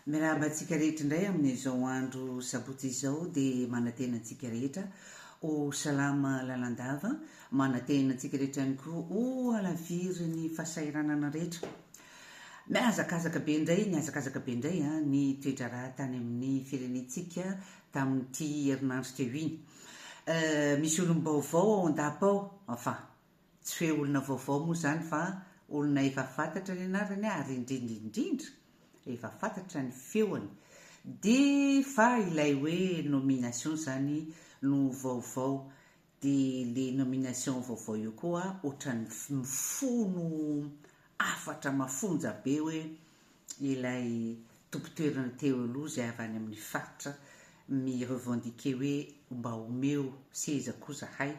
Miarahaba antsika rehetra indray amin'izao andro sabotsy izao dia manantena antsika rehetra ho salama lalandava, manantena antsika rehetra ihany koa ho halaviry ny fahasahiranana rehetra. Mihazakazaka be indray, nihazakazaka be indray ah, ny toedraharaha tany amin'ny firenentsika tamin'ity herinandro teo iny. Euh, misy olom-baovao ao an-dapa ao, enfin, Tsy hoe olona vaovao moa izany fa olona efa fantatra ny anarany ary indrindra indrindra efa fantatra ny feony. Dia fa ilay hoe nomination izany no vaovao dia le nomination vaovao io koa ohatran'ny mifono hafatra mafonja be hoe ilay tompon-toerana teo aloha izay avy any amin'ny faritra mi-revendiquer hoe mba omeo seza koa zahay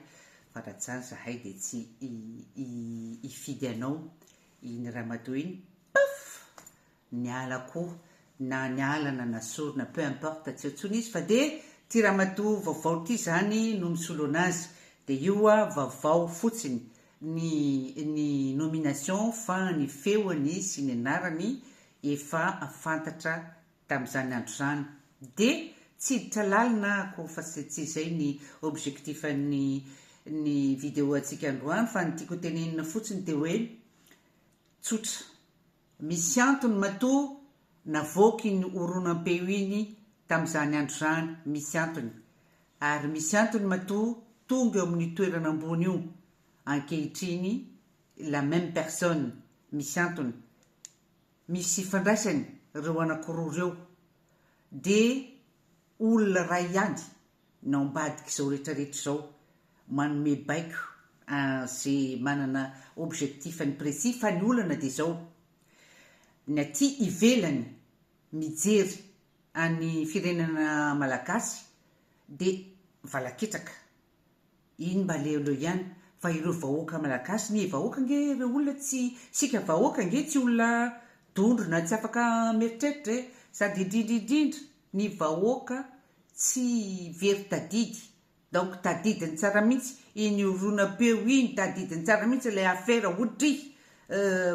fa raha tsy izany zahay dia tsy hifidy anao iny Ramado iny paf niala koa na niala na nasorina peu importe tsy eo intsony izy fa dia ity Ramado vaovao ity izany no misolo an'azy dia io vaovao fotsiny ny ny nomination fa ny feony sy ny anarany efa fantatra tamin'izany andro izany dia tsy hiditra lalina ako fa tsy izay ny objectif an'ny ny video antsika androany fa ny tiako hotenenina fotsiny dia hoe tsotra Misy antony matoa navoaka iny horonam-peo iny tamin'izany andro izany, misy antony. Ary misy antony matoa tonga eo amin'io toerana ambony io, ankehitriny, la même personne, misy antony. Misy ifandraisany ireo anankiroa ireo. Dia olona iray ihany ny ao ambadik'izao retraretra izao manome baiko an'ze manana objectif-ny précis fa ny olana dia izao ny aty ivelany mijery an'ny firenana malagasy dia valaketraka Iny mba aleondreo ihany fa ireo vahoaka malagasy ny vahoaka ange ireo olona tsy isika vahoaka ange tsy olona dondrona tsy afaka mieritreritra e sady indrindra indrindra ny vahoaka tsy very tadidy donc tadidiny tsara mihitsy iny horonam-peo iny tadidiny tsara mihitsy ilay afera otrihy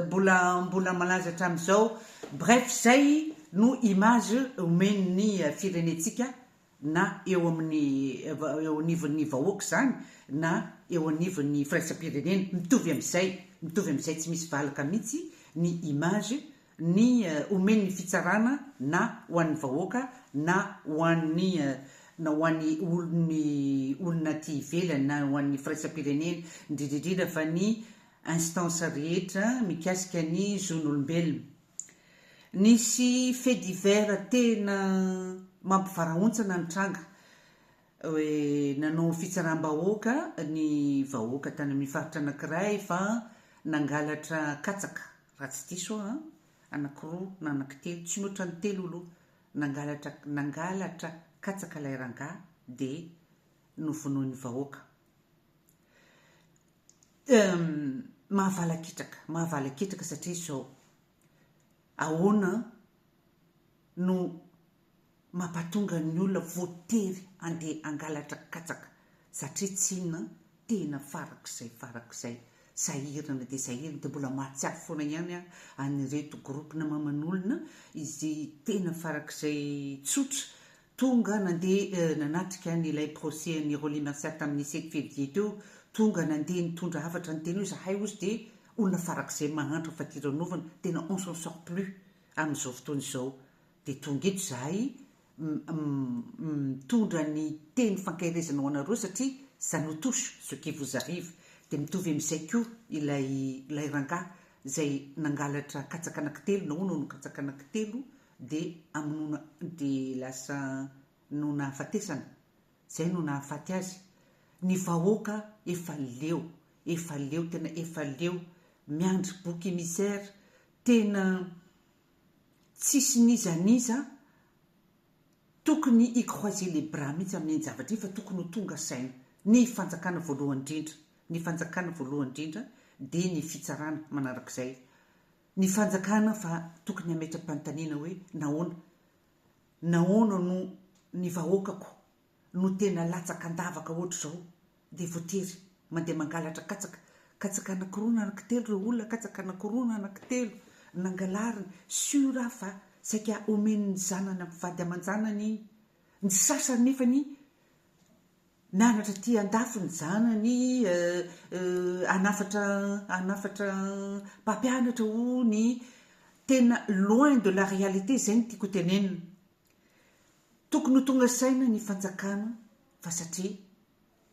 mbola mbola malaza hatramin'izao bref izay no image omen'ny firenentsika na eo amin'ny eo anivon'ny vahoaka izany na eo anivon'ny firaisam-pirenena, mitovy amin'izay, mitovy amin'izay tsy misy valaka mihitsy ny image ny omen'ny fitsarana na ho an'ny vahoaka na ho an'ny na ho an'ny olon'ny olona aty ivelany na ho an'ny firaisam-pirenena, indrindra indrindra fa ny instance rehetra mikasika ny zon'olombelona. Nisy fait divers tena mampivarahontsana nitranga, nanao fitsaram-bahoaka ny vahoaka tany amin'ny faritra anankiray fa nangalatra katsaka, raha tsy diso aho an, anankiroa na anankitelo, tsy mihoatra ny telo aloha, nangalatra nangalatra katsaka ilay rangahy dia novonoin'ny vahoaka. Mahavalaketraka, mahavalaketraka satria izao, ahoana no mampatonga ny olona voatery handeha hangalatra katsaka satria tsy inona, tena farak'izay farak'izay sahirana dia sahirana, dia mbola mahatsiaro foana ihany aho an'ireto groupe-na maman'olona izay tena farak'izay tsotra Tonga nandeha nanatrika an' ilay procès an' i Rolly Mercer tamin' ny sivy fevrier teo, tonga nandeha nitondra hafatra niteny hoe izahay ozy dia olona farak' izay mahantra fatiranovana, tena on s'en sort plus amin' izao fotoana izao, dia tonga eto izahay mitondra ny teny fankaherezana ho anareo satria ça nous touche ce qui vous arrive, dia mitovy amin' izay koa ilay ilay rangahy izay nangalatra katsaka anankitelo na hono hono katsaka anankitelo Dia hamonoana, dia lasa no nahafatesana, izay no nahafaty azy. Ny vahoaka efa leo, efa leo, tena efa leo, miandry bouc émissaire, tena tsisy n'iza n'iza tokony hi-croiser les bras mihitsy amin'iny zavatra iny fa tokony ho tonga saina. Ny fanjakana voalohany indrindra, ny fanjakana voalohany indrindra dia ny fitsarana manarak'izay. Ny fanjakana fa tokony hametra-panontaniana hoe nahoana? Nahoana no ny vahoakako no tena latsaka an-davaka ohatr'izao dia voatery mandeha mangalatra katsaka? Katsaka anakiroa na anakitelo ireo olona, katsaka anakiroa na anakitelo nangalariny, sûr aho fa saika omen'ny zanany ampivady aman-janany iny, ny sasany nefany Mianatra aty andafy ny zanany eh, eh, hanafatra hanafatra mpampianatra hono i Tena loin de la réalité izay no tiako hotenenina. Tokony ho tonga saina ny fanjakana fa satria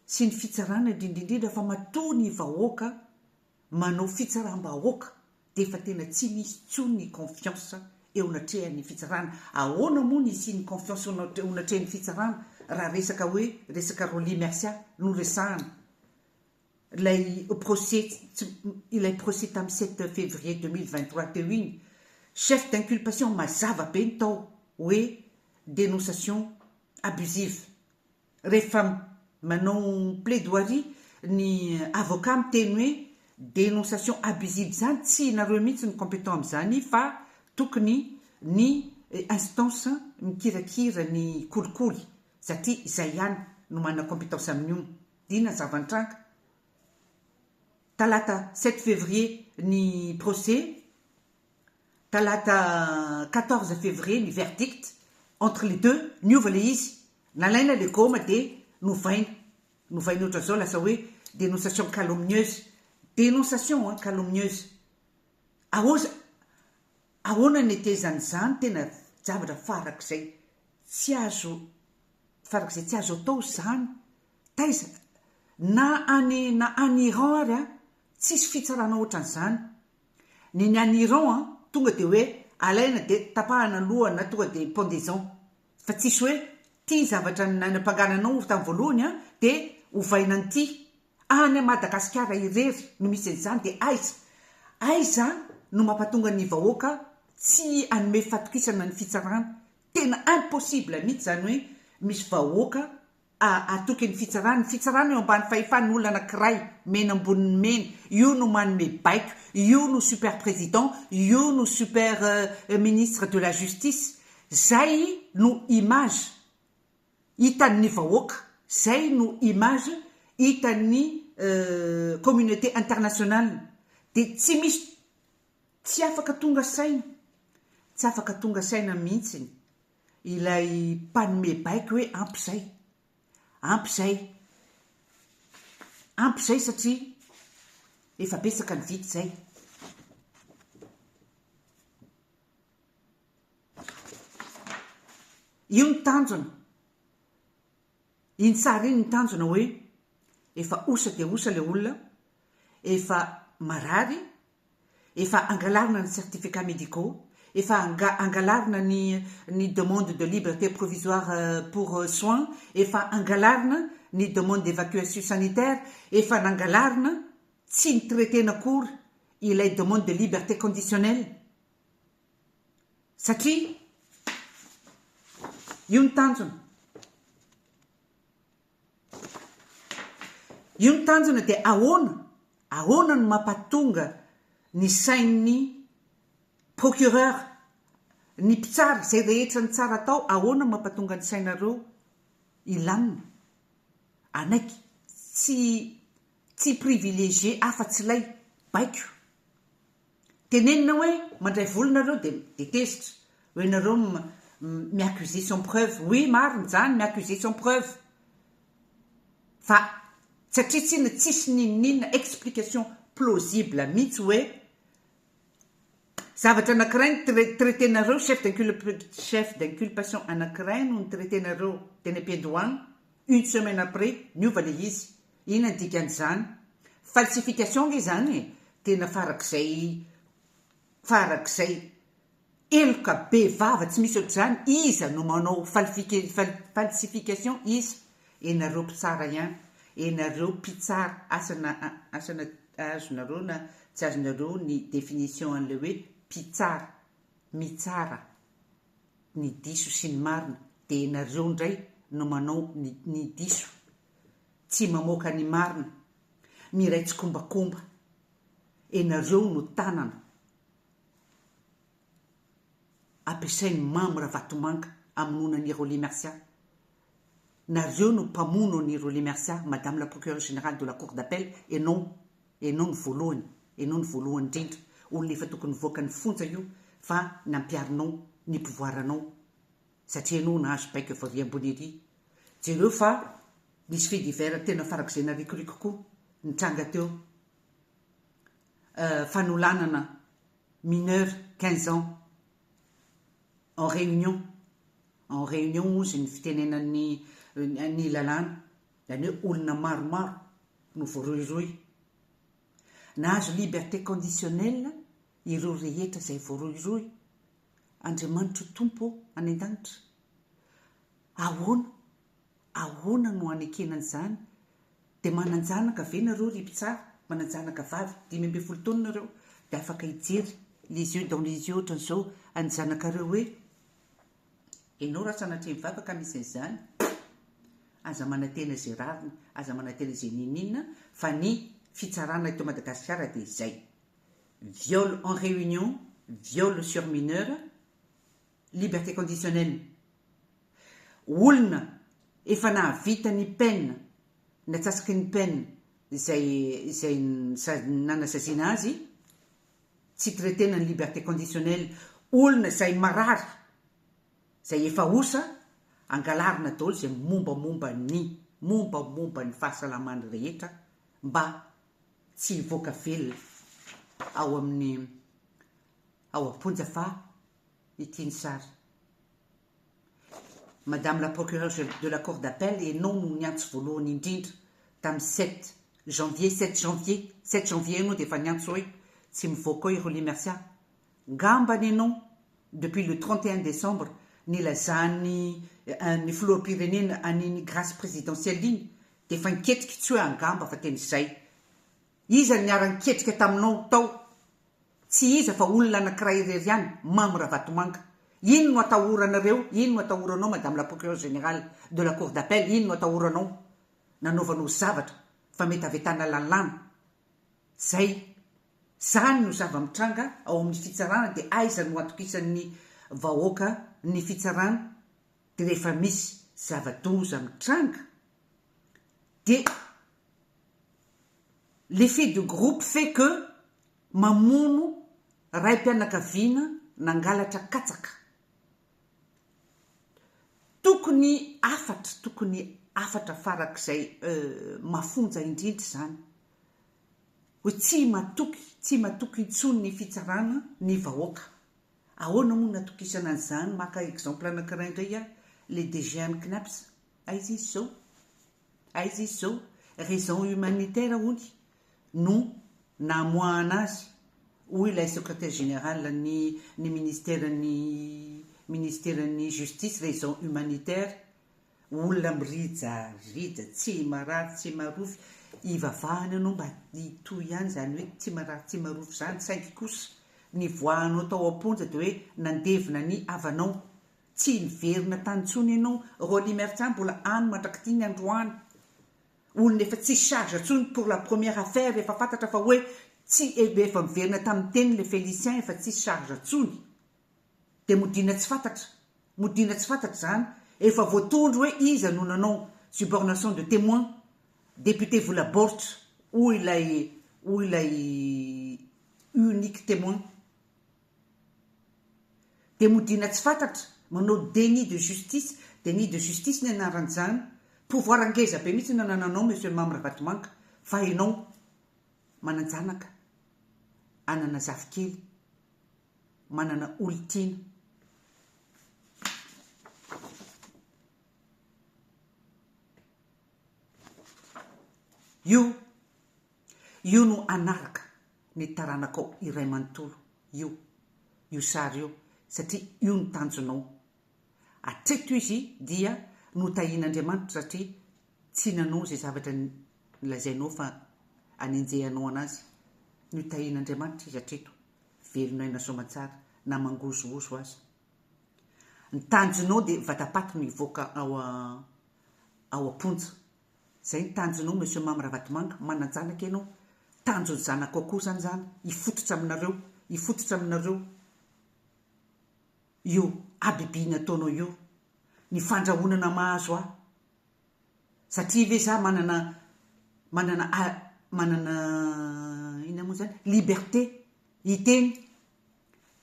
sy ny fitsarana indrindra indrindra fa matoa ny vahoaka Manao fitsaram-bahoaka dia efa tena tsy misy intsony ny confiance eo anatrehan'ny fitsarana. Ahoana moa ny hisian'ny confiance eo anatrehan'ny fitsarana raha resaka hoe resaka Rolly Mercia no resahana. Ilay procès ilay procès tamin'ny sept février deux mille vingt trois teo iny, chef d'inculpation mazava be ny tao hoe denonciation abusive. Rehefa manao plaidoirie ny avocat miteny hoe denonciation abusive izany tsy nareo mihitsy no competent amin'izany fa tokony ny instance mikirakira ny kolikoly satria izay ihany no manana competence amin'io dina zava-nitranga talata sept février ny procès Talata quatorze février ny verdict entre les deux, niova le izy, nalaina le goma de novaina, novaina otran'zao lasa hoe dénonciation calomnieuse, dénonciation an, calomnieuse, aoza, ahoana ny netezany zany tena javatra farak'zay tsy azo, farak'zay tsy azo atao zany, taiza, na any na any Iran ary an, tsisy fitsarana otran'zany, Ny ny any Iran an tonga dia hoe alaina dia tapahana aloha na tonga dia pendaison fa tsisy hoe ty zavatra nanampangananao tamin'ny voalohany an dia ovaina an'ity. Any Madagasikara irery no misy an'izany dia aiza aiza no mampatonga ny vahoaka tsy hanome fatokisana ny fitsarana. Tena impossible mihitsy izany hoe misy vahoaka hatoky ny fitsarana. Ny fitsarana eo ambany fahefan olona anakiray, mena ambonin'ny mena, io no manome baiko, io no super président, io no super ministre de la justice. Zay no image hitan'ny vahoaka, zay no image hitan'ny communauté internationale. Dia tsy misy tsy afaka tonga saina, tsy afaka tonga saina mihintsiny Ilay mpanome baiko hoe ampy izay. Ampy izay. Ampy izay satria efa betsaka ny vita izay. Io ny tanjona. Iny tsara iny ny tanjona hoe efa osa dia osa ilay olona, efa marary, efa angalarina ny certificats médicaux, efa angalarina ny ny demande de liberté provisoire pour soins, efa angalarina ny demande d'évacuation sanitaire, efa nangalarina, tsy ni-traiter-na akory ilay demande de liberté conditionnelle satria io ny tanjona. Io ny tanjona dia ahoana? Ahoana no mampatonga ny sain'ny procureur, ny mpitsara, izay rehetra ny tsara atao, ahoana mampatonga ny sainareo hilamina? Anaiky, tsy, tsy privilégié afa-tsy ilay baiko. Tenenina hoe mandray vola nareo de de tezitra hoe nareo m mi accuser sans preuve oui marina zany mi accuser sans preuve fa satria tsiny tsisy ninoninona explication plausible mitsy hoe zavatra anakiray ny trai traiter nareo chef d'inculpe chef d'inculpation anakiray no ni traiter nareo teny ampiandohana une semaine après niova le izy Inona ny dikan'izany? Falsification ange izany e! Tena farak'izay farak'izay heloka be vava tsy misy ohatr'izany, iza no manao falifike fal falsification iza? Ianareo mpitsara ihany, ianareo mpitsara asana asana azonareo na tsy azonareo ny définition an'ilay hoe mpitsara, mitsara ny diso sy ny marina dia ianareo indray no manao ny ny diso tsy mamoaka ny marina, miray tsikombakomba, enareo no tanana ampiasainy Mamy Ravatomanga amonoana an'i Rolly Mercia, nareo no mpamono an'i Rolly Mercia madame la procureure générale de la cour d'appel enao, enao no voalohany, enao no voalohany indrindra, olona efa tokony nivoaka ny fonja io fa nampiarinao ny pouvoir anao, satria ianao nahazo baiko avy avy ambony ery, jereo fa nisy fait divers tena farak'izay narikoriko koa nitranga teo, euh fanolanana mineur quinze ans en réunion, en réunion hozy ny fitenenan'ny ny lalàna, zany hoe olona maromaro no voarohirohy, nahazo liberté conditionnelle ireo rehetra izay voarohirohy, Andriamanitro Tompo any an-danitra. Ahoana, ahoana no hanekena an'izany? Dia manan-janaka ve nareo ry mpitsara? Manan-janaka vavy dimy ambin'ny folo taona nareo dia afaka hijery les yeux dans les yeux ohatran'izao an'ny zanakareo hoe, ianao raha sanatria mivavaka ka misy an'izany, aza manantena izay rariny, aza manantena izay n'inon'inona fa ny fitsarana eto Madagasikara dia izay. viol en réunion, viol sur mineur, liberté conditionnelle. Olona efa nahavita ny peine, ny atsasaky ny peine izay izay nanasaziana azy, tsy traitena ny liberté conditionnelle, olona izay marary, izay efa osa, angalarina daholo izay mombamomba ny mombamomba ny fahasalamany rehetra mba tsy hivoaka velona ao amin'ny ao am-ponja fa ity ny sary. Madame la Procureure de la Cour d'Appel, ianao no niantso voalohany indrindra tamin'ny sept janvier, sept janvier, sept janvier ianao dia efa niantso hoe tsy mivoaka ao i Rolly Mercia. Ngambany ianao depuis le trente et un décembre nilazan'ny ny filoham-pirenena an'iny grâce présidentielle iny Dia efa niketrika i Tsioe angamba fa tena izay. Iza no niara-niketrika taminao tao? Tsy iza fa olona anankiray irery ihany, Mamy Ravatomanga. Iny no atahoranareo, iny no atahoranao Madame la Procureure Générale de la Cour d'Appel, iny no atahoranao nanaovanao zavatra fametavetana lalàna. Izay. Izany no zava-mitranga ao amin'ny fitsarana dia aiza no hatokisan'ny vahoaka ny fitsarana? rehefa misy zava-doza mitranga de l'effet de groupe fait que mamono raim-pianakaviana nangalatra katsaka. Tokony hafatra, tokony hafatra farak'izay mafonja indrindra izany hoe tsy matoky, tsy matoky intsony ny fitsarana ny vahoaka. Ahoana moa no atokisana an'izany, maka exemple anankiray indray aho, le DG an'i Cnaps, aiza izy zao? Aiza izy zao? Raison humanitaire hoy no namoahana azy hoy ilay secretaire général ny ny ministeran'ny ministeran'ny justice raison humanitaire Olona mirija rija tsy marary tsy marofy ivavahany anao mba hitohy ihany izany hoe tsy marary tsy marofy izany saingy kosa nivoahanao tao amponja dia hoe nandevina ny havanao tsy niverina tany intsony ianao Rolly Merca mbola any mandrak'ity ny androany olona efa tsy charge intsony pour la première affaire efa fantatra fa hoe tsy efa miverina tamin'ny teniny le Felicien efa tsy charge intsony Dia modiana tsy fantatra. Modiana tsy fantatra izany, efa voatondro hoe iza no nanao subornation de temoin, député vola baoritra hoy ilay hoy ilay unique temoin. Dia modiana tsy fantatra, manao déni de justice, déni de justice ny anaran'izany. Pouvoir ngeza be mihitsy no anananao Monsieur Mamy Ravatomanga, fa ianao manan-janaka, anana zafikely. manana olon-tiana. Io, io no hanaraka ny taranakao iray manontolo, io, io sary io, satria io no tanjonao. Hatreto izy dia notahian'Andriamanitra satria tsy nanao izay zavatra nolazainao fa hanenjehanao anazy. Notahian'Andriamanitra izy hatreto. Velona aina soamantsara na mangozohozo aza. Ny tanjonao dia vatapaty no hivoaka ao ao am-ponja. Izay ny tanjonao Monsieur Mamy Ravatomanga, manan-janaka ianao. Tanjon'ny zanakao koa izany izany, hifototra aminareo, hifototra aminareo io habibiana ataonao io. Ny fandrahonana mahazo ahy. Satria ve za manana manana manana inona moa zany liberté hiteny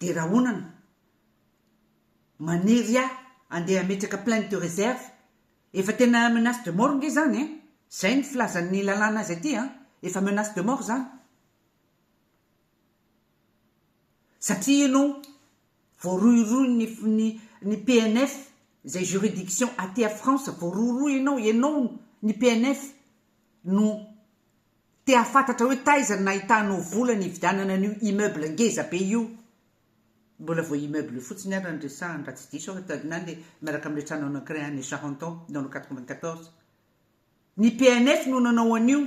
de rahonana manery ahy andeha hametraka plainte de réserve efa tena menace de mort nge zany ein zay ny filazan'ny lalàna azy aty an efa menace de mort zany satria ianao Voarohirohy ny ny ny PNF zay juridiction aty a France voarohirohy enao enao ny PNF no te hahafantatra hoe taiza no nahitanao vola nividianana an'io immeuble ngeza be io mbola vao immeuble fotsiny ary no resahany raha tsy diso aho ta na le miaraka amle tranonao ankiray any Charenton dans le quatre vingt quatorze ny PNF no nanao an'io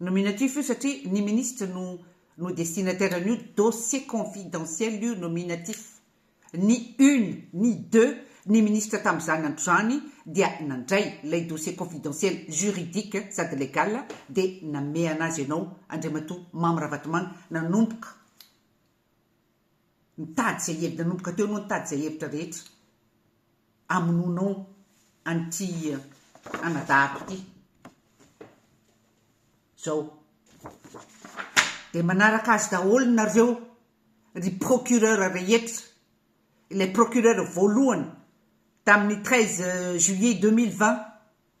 Nominatif io satria ny ministre no no destinataire an'io dossier confidentiel io nominatif ny une ny deux ny ministre tam'zany andro zany dia nandray lay dossier confidentiel juridique sady legal de nameha anazy anao Andriamatoa Mamy Ravatomanga nanomboka nitady zay nanomboka teo anao nitady zay hevitra rehetra amonoanao an'ity anadahako ity zao de manaraka azy daholo nareo ry procureur rehetra ilay procureur voalohany tamin'ny treize juillet deux mille vingt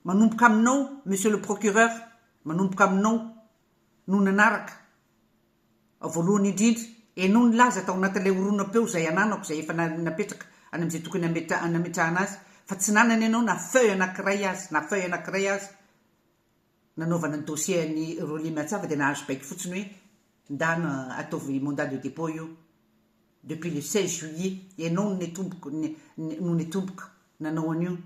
manomboka aminao monsieur le procureur manomboka aminao no nanaraka Voalohany indrindra, ianao nilaza tao anatin'ilay horonam-peo izay ananako izay efa napetraka any amin'izay tokony hametrahana azy fa tsy nanana ianao na feuille anankiray aza, na feuille anankiray aza nanaovana ny dossier an'i Rolly Miantsava dia nahazo baiko fotsiny hoe ndana ataovy mandat de dépôt io depuis le seize juillet, ianao no netompoko no netompoko nanao an'io.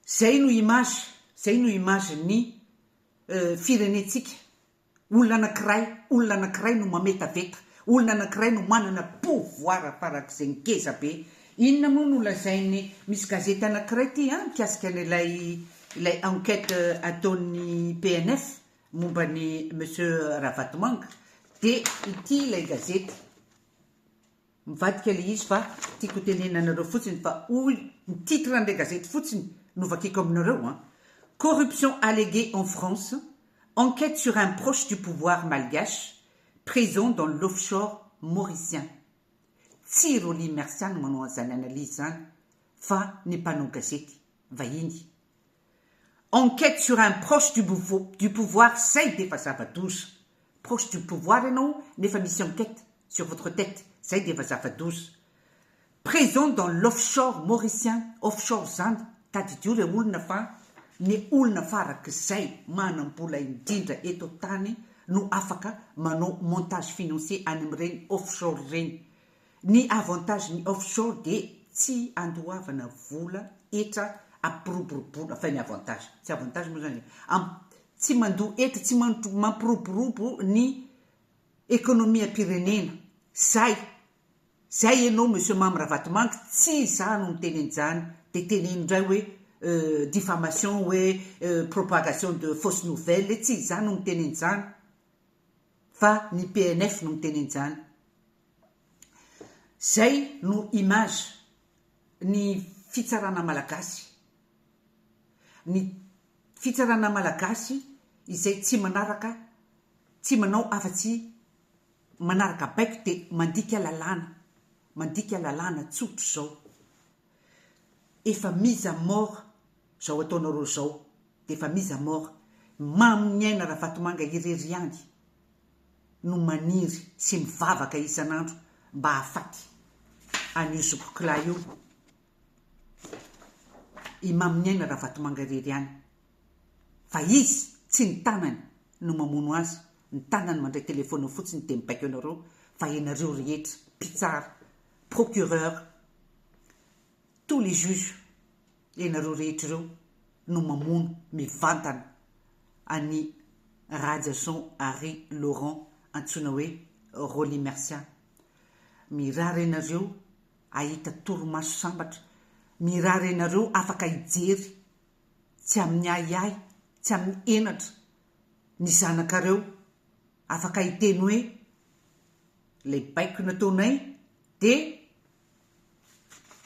Izay no image, izay no image-n'ny. firenentsika. Olona anankiray, olona anankiray no mametaveta, olona anankiray no manana pouvoir farak'izay ngeza be. Inona moa no lazain'ny, misy gazety anankiray ity an, mikasika an'ilay ilay enquête ataon'ny PNF momba an'i Monsieur Ravatomanga. Dia ity ilay gazety. Mivadika le izy fa tiako ho tenenina anareo fotsiny fa hoy ny titre an'ilay gazety fotsiny no vakiako aminareo an, Corruption alléguée en France, enquête sur un proche du pouvoir malgache présent dans l'offshore mauricien. Tsy Rolly Mercia no manao an'izany analyse izany fa ny mpanao gazety vahiny. Enquête sur un proche du du pouvoir zay defa zava-doza. Proche du pouvoir ianao nefa misy enquête sur votre tête zay defa zava-doza. Présent dans l'offshore mauricien, offshore zany tadidio le olona fa ny olona farak'izay manam-bola indrindra eto an-tany no afaka manao montage financier any amin'ireny offshore ireny. Ny avantage ny off shore dia tsy andoavana vola hetra ampiroboroboana fa ny avantage tsy avantage moa zany am tsy mandoa hetra tsy mandro mampiroborobo ny economie ampirenena zay zay enao monsieur mamy ravatomanga tsy za no miteny an'izany de teneno ndray hoe diffamation hoe propagation de fausse nouvelle tsy za no miteny an'izany. fa ny PNF no miteny an'izany. Zay no image ny fitsarana malagasy. Ny fitsarana malagasy izay tsy manaraka, tsy manao afa tsy manaraka baiko dia mandika lalàna, mandika lalàna tsotra izao. efa mise à mort zao ataonareo zao de efa mise à mort mamy ny aina Ravatomanga irery ihany no maniry sy mivavaka isan'andro mba hahafaty an'io zokikilahy io i mamy ny aina Ravatomanga irery ihany fa izy tsy ny tanany no mamono azy ny tanany mandray téléphone fotsiny de mibaiko anareo fa ianareo rehetra mpitsara procureur, tous les juges, ianareo rehetra ireo no mamono mivantana an'i Rahajason Harry Laurent antsoina hoe Rolly Mercia. Mirary ianareo hahita torimaso sambatra, mirary ianareo afaka hijery tsy amin'ny ahiahy, tsy amin'ny henatra ny zanakareo, afaka hiteny hoe. Ilay baiko nataonay dia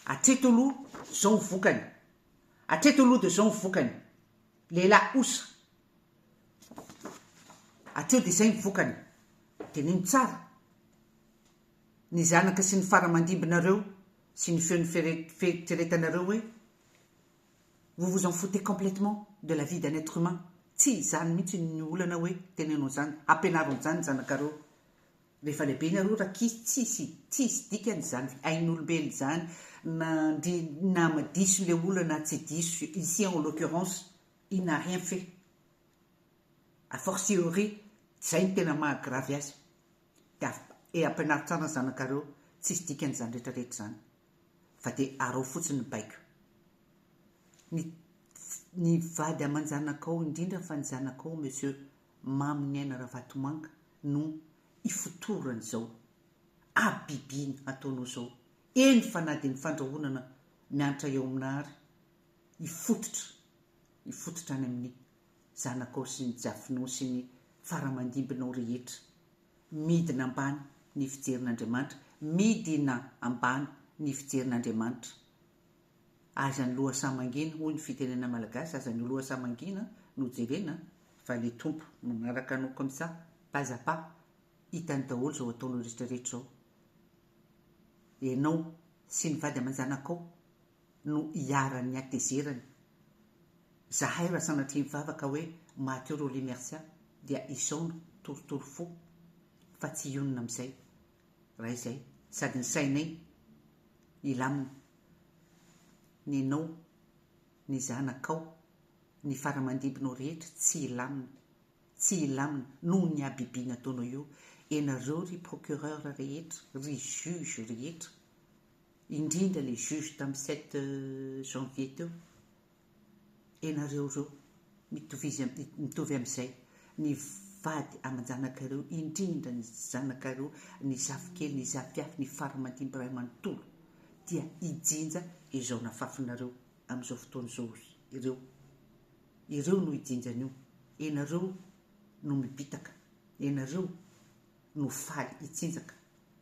hatreto aloha izao ny vokany. Hatreto aloha dia izao ny vokany. Lehilahy osa. Hatreo dia izay ny vokany. Dinino tsara ny zanaka sy ny faramandimbinareo sy ny feon'ny fieritreretanareo hoe vous vous en foutez complètement de la vie d'un être humain. Tsy izany mihitsy ny olana hoe teneno an'izany, ampianaro an'izany ny zanakareo. Rehefa lehibe ny aroa rakisy tsisy tsisy dikany izany ain'olombelona izany na ndry na diso le olona na tsy diso ici en l'occurrence il n'a rien fait à fortiori zay no tena maha gravy azy dia et ampianaro tsara ny zanakareo tsisy dikany izany rehetra rehetra izany fa dia arao fotsiny ny baiko ny ny vady aman-janakao indrindra fa ny zanakao monsieur Mamy Ny Aina Ravatomanga no ifotorany izao habibiana ataonao izao, eny fa na dia ny fandrahonana miantra eo amina ary hifototra hifototra any amin'ny zanakao sy ny jiafinao sy ny faramandimbinao rehetra. Midina ambany ny fijerin'Andriamanitra, midina ambany ny fijerin'Andriamanitra. Aza ny loha sahy mangina hoy ny fitenena malagasy aza ny loha sahy mangina no jerena fa le tompo manaraka anao comme ça pas à pas hitany daholo zao ataonao rehetra rehetra zao enao sy ny vady amanjanakao no iharan'ny hatezerany zahay raha sanatria mivavaka hoe maty eo Rolly Mercia dia isaona torotoro fo fa tsy hionona amizay Raha izay sady ny sainay hilamina, nenao, ny zanakao, ny faramandibinao rehetra tsy hilamina, tsy hilamina noho ny habibiana ataonao io, ianareo ry procureur rehetra, ry juge rehetra, indrindra le juge tamin'ny sept janvier teo. ianareo ireo mitovizia mitovy amin'izay ny vady aman-janakareo indrindra ny zanakareo ny zafikely ny zafiafy ny faramantimby ray manontolo dia hijinja izao nafafinareo amin'izao fotoana izao ireo ireo no hijinja an'io ianareo no mibitaka ianareo no faly hitsinjaka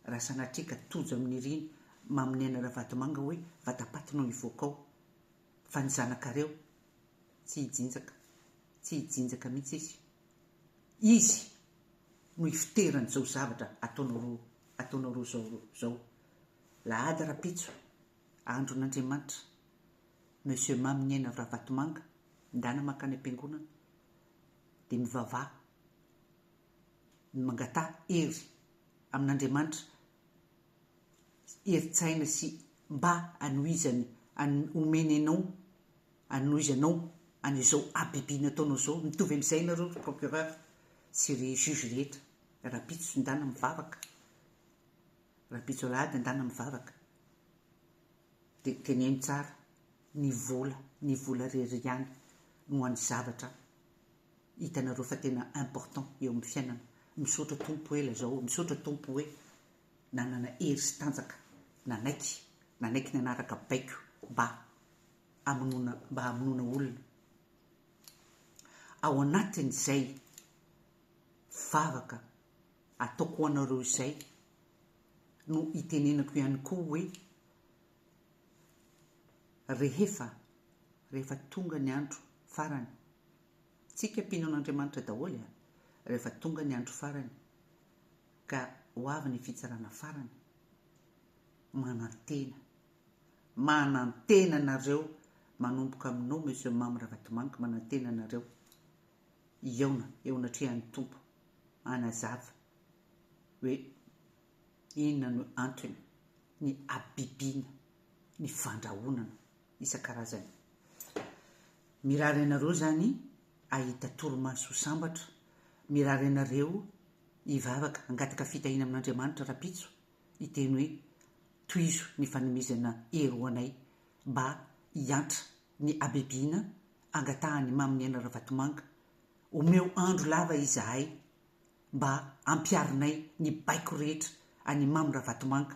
raha sanatria ka tojo amin'ny riny mamin'ny aina ravatomanga hoe vatapaty no hivoaka ao Fa ny zanakareo, tsy hijinjaka, tsy hijinjaka mihitsy izy. Izy no ifoteran'izao zavatra ataonao ataonao roa izao izao. Lahady rapitso, andron'Andriamanitra, Monsieur Maminiaina Ravatomanga, ndana mankany am-piangonana, dia mivavaha, mangataha hery amin'Andriamanitra herin-tsaina sy mba hanohizany an'i omeny anao hanohizanao an'izao habibiana ataonao izao mitovy amin'izay nareo ry procureur sy ry juge rehetra rapitso ndana mivavaka rapitso alahady ndana mivavaka dia teneno tsara ny vola ny vola rery ihany no an'ny zavatra hitanareo fa tena important eo amin'ny fiainana, misaotra Tompo ela zao, misaotra Tompo hoe nanana hery sy tanjaka nanaiky nanaiky nanaraka baiko mba hamonoana mba hamonoana olona ao anatin'izay vavaka ataoko ho anareo izay no hitenenako ihany koa hoe rehefa rehefa tonga ny andro farany Tsika mpino an'Andriamanitra daholo a, rehefa tonga ny andro farany ka ho avy ny fitsarana farany, manantena, manantena anareo manomboka aminao Monsieur Mamy Ravatomangy manantena anareo hihaona eo anatrehan'ny Tompo hanazava hoe inona no antony ny habibiana ny fandrahonana isan-karazany. Mirary anareo izany hahita torimaso ho sambatra, mirary anareo hivavaka hangataka fitahiana amin'Andriamanitra rahampitso, hiteny hoe, Tohizo ny fanomezana hery ho anay mba hiantra ny habibiana angatahan'i Maminiaina Ravatomanga, omeo andro lava izahay mba hampiharinay ny baiko rehetra an'i Mamy Ravatomanga.